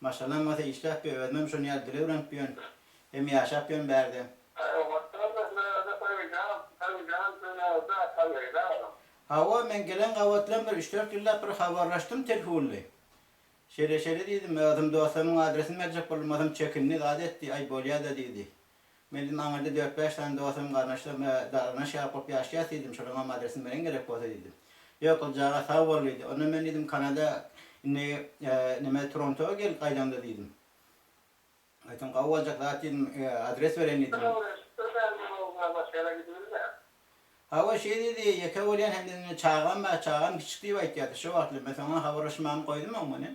Maşgalam bolsa işläp ýör, özümem şonuň ýaly dil öwrenip ýörün, hem ýaşap ýörün bärde. Hawa, men gelen gabat bilen bir üç-dört ýyllap bir habarlaşdym telhunly. Şeýle-şeýle diýdim, özüm dostlarymyň adresini berjek boldum, o hem çekindi, zat etdi, aý bolýa-da diýdi. Men diýdim, aňyrda dört-bäş sany dostlarym, garyndaşlarym we garyndaş ýaly bolup ýaşaýas diýdim, şolaryň hem adresini beriň gerek bolsa diýdim. Ýok, gyzjagaz sag bol diýdi. Onda men diýdim, Kanada indi neme Torontoa gel gaýdaňda diýdim. Aýtsam gawy boljak zat diýdim, adres bereýin diýdim. Hawa şeý diýdi, ýeke bolýan hem-de indi çagam bar, çagam kiçik diýip aýtýardy. Şo wagtlar men soň habarlaşmagymy goýdum oňman hem.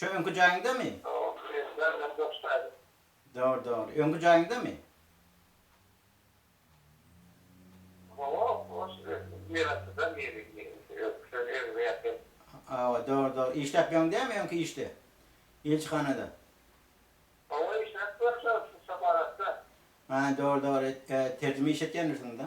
Şu öňki jaýyňdamy? Dogry, dogry. Öňki jaýyňdamy? Hawa, dogry, dogry. Işläp ýöriň dämi öňki işde? Ilçihanada. Hä, dogry, dogry. Terjime iş etýändirsiň-dä?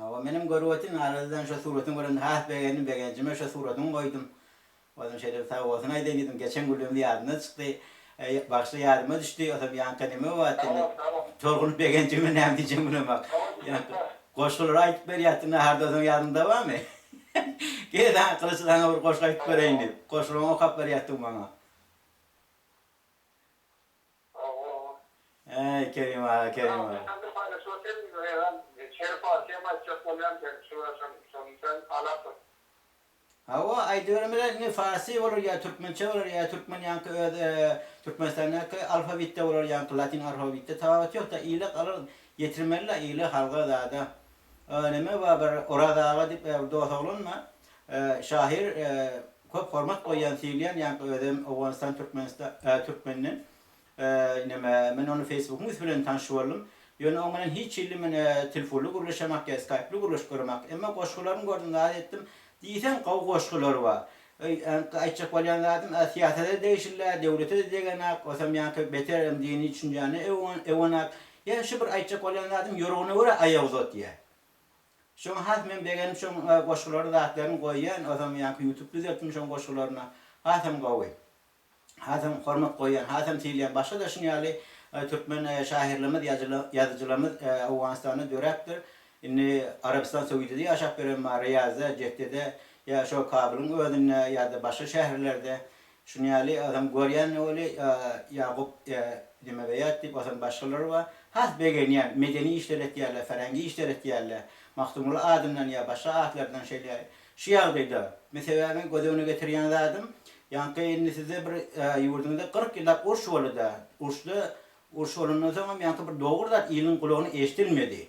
Hawa, menem görüp otyryn, aradan şo suratyňy görende has begendim, begenjime şo suratyňy goýdum. Ozüň şeýle bir sag bolsun aýdaýyn diýdim, geçen günlerim ýadymdan çykdy. Eý, bagşla ýadyma düşdi, ozam ýaňka neme bolýardy indi, tolgunyp begenjime näme diýjegimi bilemok. Ýaňky goşgulary aýdyp berýärdi, naharda ozüň ýadyňda barmy? Gel, a, Gylyç saňa bir goşgy aýdyp bereýin diýip, goşgularyňy okap berýärdiň maňa. Äý Kerim aga Kerim aga. Sen bir paýlaşma sen eýran Şerif bary kem aýtjak bolýan sen şu şon şony sen alapsyň. Hawa aýdybermeli indi farsy bolar ýa türkmençe bolar ýa türkmen ýaňky öz türkmenistandaky alfabitde bolar ýaňky latin arfabitde tababyt ýokda ile galar ýetirmelila ile halga zada neme bar bir Oraz aga dip bir dos oglan bar Şahyr köp hormat goýýan syýlaýan ýaňky özem Owganystan Türkmenistan Türkmenden neme men ony Facebookyň üsti bilen tanşy boldum ýöne oň bilen hiç hilli men tilfunly gürleşemak ýa skaýply gürleşip göremak emma goşgularyny gördüm zat etdim diýseň gowy goşgulary bar ýaňky aýtjak bolýan zadym a syýasada degişilli a döwlete degenak osam ýaňky beter hem dini düşünjäne eonak ýa şu bir aýtjak bolýan zadym ýorguna görä aýak uzatýa. Şoňa has men begenip şoň goşgulary zatlaryn goýýan ozam ýaňky ýutup düzeltdim şoň goşgularyna hasam gowy hasam hormat goýýan hasam syýlaýan başga da şuny ýaly türkmen şahyrlarymyz ýazyjylarymyz Owganystanda döräpdir indi Arabystan Söýdide ýaşap ýören bar Ryýazda Jeddede ýa şo Kabylyň özünde ýa-da başga şäherlerde Şuny ýaly Hasan görýän weli Ýagup Nemeweýat diýip Hasan başgalary bar. Has begenýän, medeni işler etýärler, färengi işler etýärler. Magtymguly adyndan ýa başga atlardan şeýle. Şu ýagdaýda men sebäbini göz öňüne getirýän zadym, ýaňky indi sizde bir ýurduňyzda kyrk ýyllap uruş boldy-da, uruşda uruş bolandan soňam ýaňky bir dogry zat iliň gulagyna eşidilmedi.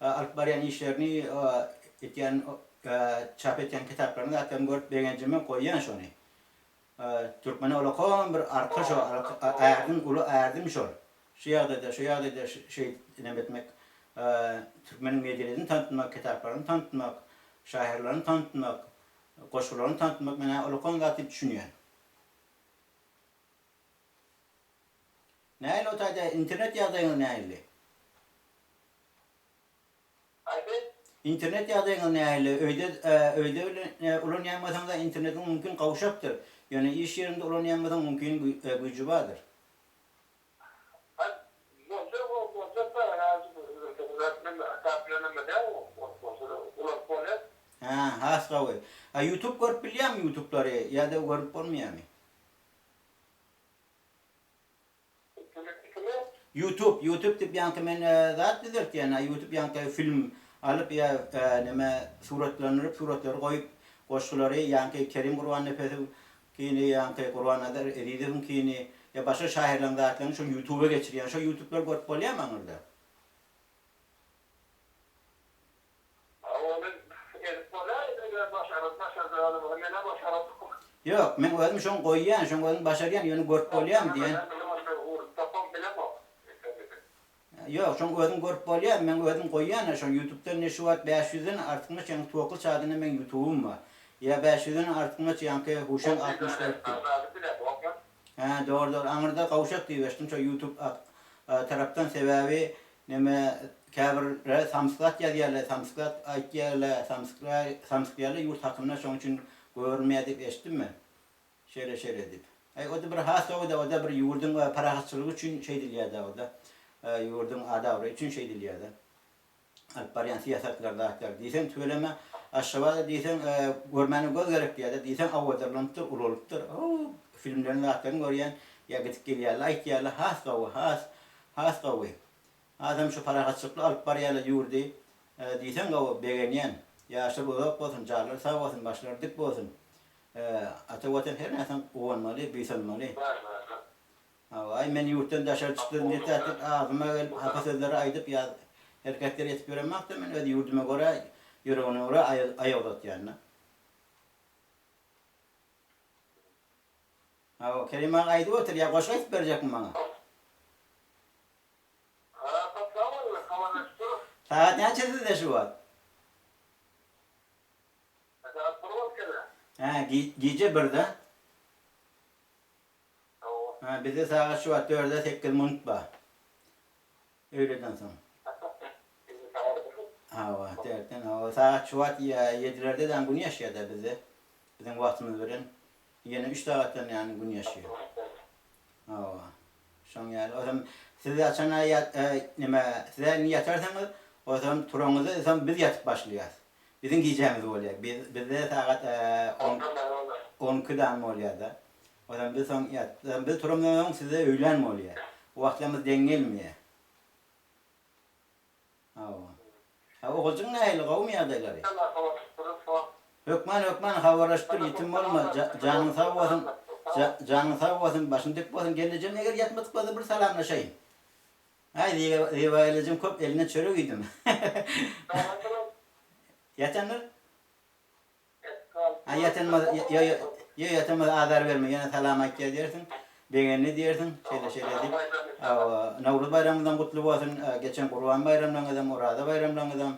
Alyp barýan işlerini etýän çap etýän kitaplaryny zatlaryny görüp begenjimi goýýan şony Türkmene ulakan bir arka şo ärdin uly ärdin şol şu ýagdaýda şu ýagdaýda şeýdip neme etmek Türkmeniň medeniýetini tanatmak kitaplaryny tanatmak şahyrlaryny tanatmak goşgularyny tanatmak men ä ulakan zat diýip düşünýän. Nähili o taýda internet ýagdaýyňyz nähili? Internet ýagdaýyňyz nähili? Öýde öýde ulanýanmysyňyz? Internetiň mümkin gowşapdyr. Ýöne iş ýeriňde ulanýanmysyň? Mümkin güýji bardyr. Hä, has gowy. A ýutub görüp bilýäňmi ýutublary ýa-da görüp bolmaýamy? Ýutub ýutub dip ýaňky men zat düzeltýän a ýutub ýaňky film alyp ýa nime suratlandyryp suratlary goýup goşgulary ýaňky Kerim Gurbannepesiw kini ýaňky Gurbannazar Ezizowyň kini ýa başga şahyrlaň zatlaryny şol ýutuba geçirýän şo ýutublary görüp bolýamy aňyrda. Ony edip bolaýdy eger başaryp başarjagymyzy menä başarasokmy. Ýok meň özüm şoň goýýan şoň özüm başarýan ýöne görüp bolýamy diýen. Ýok şoň özüm görüp bolýamy meň özüm goýýana şoň ýutubda indi şu wagt bäş ýüzden artykmaç ýaňky twokly çadynda meň ýutubym bar ýa bäş ýüzden artykmaç ýaňky huşan altmyş dört diýip. Hä dogry dogry aňyrda gawşak diýip eşitdim şo ýutub tarapdan sebäbi Neme käbir ler samskat ýazýarle samskat aýtýarle samskra samskýarle ýurt hakynda şoň üçin görünmeýär diýip eşitdim men şeýle şeýle diýip aý oda bir has sowda oda bir ýurduň parahatçylygy üçin şeýdilýär da oda ýurduň ad abraýy üçin şeýdilýär da alyp barýan syýasatlar zatlar diýseň tüweleme aşgabada diýseň görmäne göz gerek diýýär da diýseň awadalanypdyr ulalypdyr howw filmleriň zatlaryny görýän ýa gidip gelýärle aýtýarle has sowy has Has gowy. Hasam şu parahatçylykly alyp barýarlar ýurdy diýseň gowy begenýän. Ýaşlary uzak bolsun, janlary sag bolsun, başlary dik bolsun. Ata watan her näsaň guwanmaly, buýsanmaly. Hawa aý men ýurtdan daşary çykdym diýip ählik agzyma gelip hapa sözleri aýdyp ýa herketleri etip ýöremakda men öz ýurduma görä ýüregine görä aýak uzatýan da. Hawa, Kerim aga aýdyp otyr, ýa goşgy aýdyp berjekmi maňa? Ha, saklap goýberdi, habarlaşyp durus. Sagat näçe sizde şu wagt? Sagat bir bolup geler. Hä, gije birde. Hawa. Hä, bizde sagat şu wagt dörde sekiz minut bar. Öýleden soň. Hawa, dörtden hawa sagat şu wagt ýa ýedilerde däm gün ýaşýada bizde. Biziň wagtymyz bilen ýene üç sagatdan däm gün ýaşýa. Hawa. Şoň ýaly. Ozan siz haçan ýat nime size indi ýatarsyňyz, ozan turaňyzda ozan biz ýatyp başlaýas. Biziň gijämiz bolýa. Biz bizde sagat on on iki däm bolýada. Ozemde soň ýat. Ozemde turamdan soň size öýlän bolýa. Bu wagtlamyz deň gelmeýä. Hawa. A oguljyň nähili, gowumy ýagdaýlary? Ýaňy habarlaşyp durus wagt. Hökman, hökman habarlaşyp dur, ýitim bolma, janyň sag bolsun, janyň sag bolsun, başyň dik bolsun, gel ejem eger ýatmadyk bolsa bir salamlaşaýyn. Aý Zebaýyl ejem köp elinden çörek iýdim. Ýatandyr? Ýatanmaz, ýo-ýo, ýatanmaz azar berme, ýene salam aýtýar diýersiň, begenli diýersiň, şeýle-şeýle diýip. Hawa, Nowruz baýramyňyzam gutly bolsun, geçen Gurban baýramlaryňyzam, Oraza baýramlaryňyzam.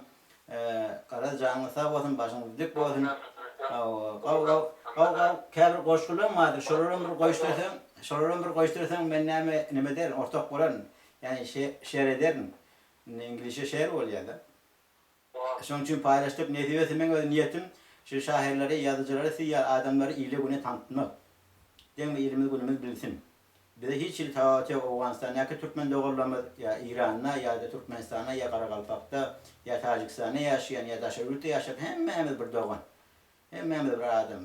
Garaz, janyňyz sag bolsun, başyňyz dik bolsun. Hawa, gaw-gaw, gaw-gaw, käbir goşgularyň bardyr, şolaram bir goýuşdyrsaň, şolaram bir goýuşdyrsaň, men näme, nime ederin, ortak bolaryn. Ýagny, şe-şer ederin. Indi iňlisçe share bolýar-da. Şonuň üçin paýlaşdyk. Nesibesi meň öz niýetim şu şahyrlary, ýazyjylary, siz ýaly adamlary ile-güne tanitmak. Deňme ilimiz günümiz bilsin. Bize hiç hili tababat ýok Owganystandaky türkmen doganlarymyz ýa Eýranda ýa-da Türkmenistanda ýa Garagalpakda ýa Tajikistanda ýaşaýan ýa daşary ýurtda ýaşap hemmämiz bir dogan. Hemmämiz bir adam.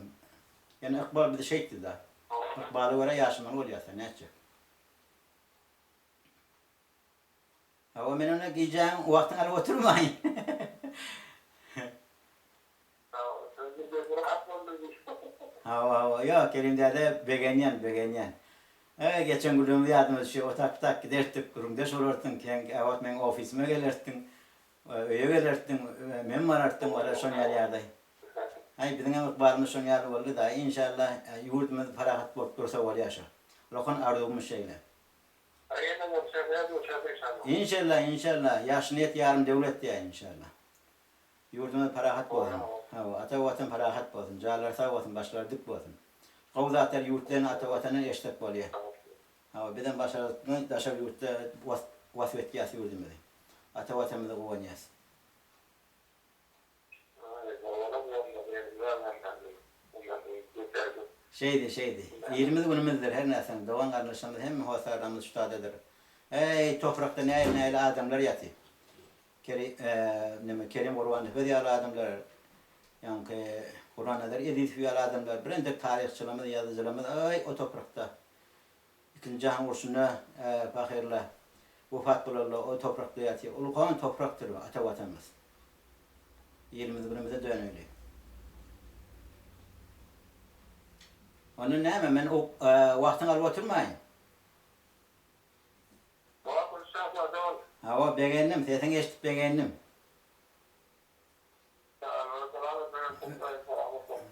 Ýöne ykbal bizi şeýtdi-da. Ykbala görä ýaşamaly bolýas-da nätjek. Hawa men onda gijäň wagtyňy alyp oturmaýyn. Hawa hawa ýok Kerim däde begenýän begenýän. Eý geçen günlerimiz ýadyma düşýär otak pytak gidertdik gürrüňdeş bolartdyň keň käbir wagt meň ofisime gelertdiň. Öýe gelertdiň men barartdym barar şoň ýaly ýagdaý. Haý biziň hem ykbalymyz şoň ýaly boldy daýy inşallah ýurdumyz parahat bolup dursa bolýa şo. Rokan arzuwymyz şeýle. Inşallah inşallah ýagşyny et ýarym döwlet diýäýiň inşallah. Ýurdumyz parahat bolsun. Hawa ata watan parahat bolsun. Janlary sag bolsun başlary dik bolsun. Gowy zatlar ýurtdan ata watandan eşitsek bolýa. Hawa bizem başardyk daşary ýurtda wasp etýäs ýurdumyzy. Ata watanymyza guwanýas. Şeýdi, şeýdi. Ilimiz-günümizdir, her närsem. Dogan-garyndaşlarymyz hemme hossar damyz şutadydyr. Äý, toprakda näýil-näýil adamlar ýatyp. Keri, e, neme, Kerim Gurbanepes ýaly adamlar, ýaňky Gurnazar Ezizow ýaly adamlar, birentek taryhçylarymyz, ýazyjylarymyz, äý, o toprakda. Ikinji jahan urşunda pahyrlar wepat bolarlar, o toprakda ýatyr. Ol gan toprakdyr ata Watanymyz. Ilimiz günümize döneli. Onda näme men wagtyňy alyp oturmaýyn. Wagtymyz çaklasa boldy. Hawa begendim, sesiňi eşidip begendim.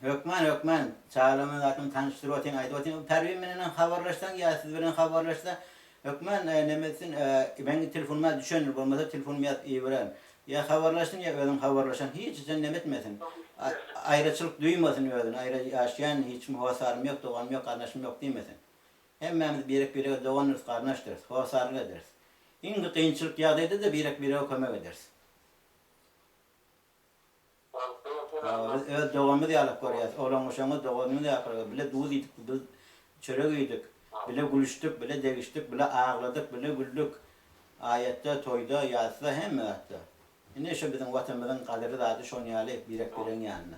Hökman, hökman. Çagalaryma zatlamy tanyşdyryp otyň, aýdyp otyň. Bu Perwin bilenem habarlaşsaň ýa siz bilen habarlaşsa, hökman näme etsin, meň telefonuma düşendir, bolmasa telefonumy ýazyp ibererin. Ýa habarlaşsyn, ýa özüň habarlaşan. Hiç üçem näme etmesin. Aýraçylyk duýmasyn özüni, aýra ýaşaýan, hiç kim hossarym ýok, doganym ýok, garyndaşym ýok diýmesin. Hemmämiz birek-birege dogandyrys, garyndaşdyrys, hossarlyk ederis. Iň bir kynçylyk ýagdaýda-da birek-birege kömek ederis. Hawa, biz öz doganymyz ýalap görýäs. Oglan-goşaňyz doganymyz ahyry. Bile duz iýdik, bile çörek iýdik, bile gülüşdik, bile degişdik, bile agladyk, bile güldük. Aýatda, toýda, ýasyda, hemme zatda. Ine, şu biziň Watanymyzyň gadyry zady şoň ýaly birek-biregiň ýanynda.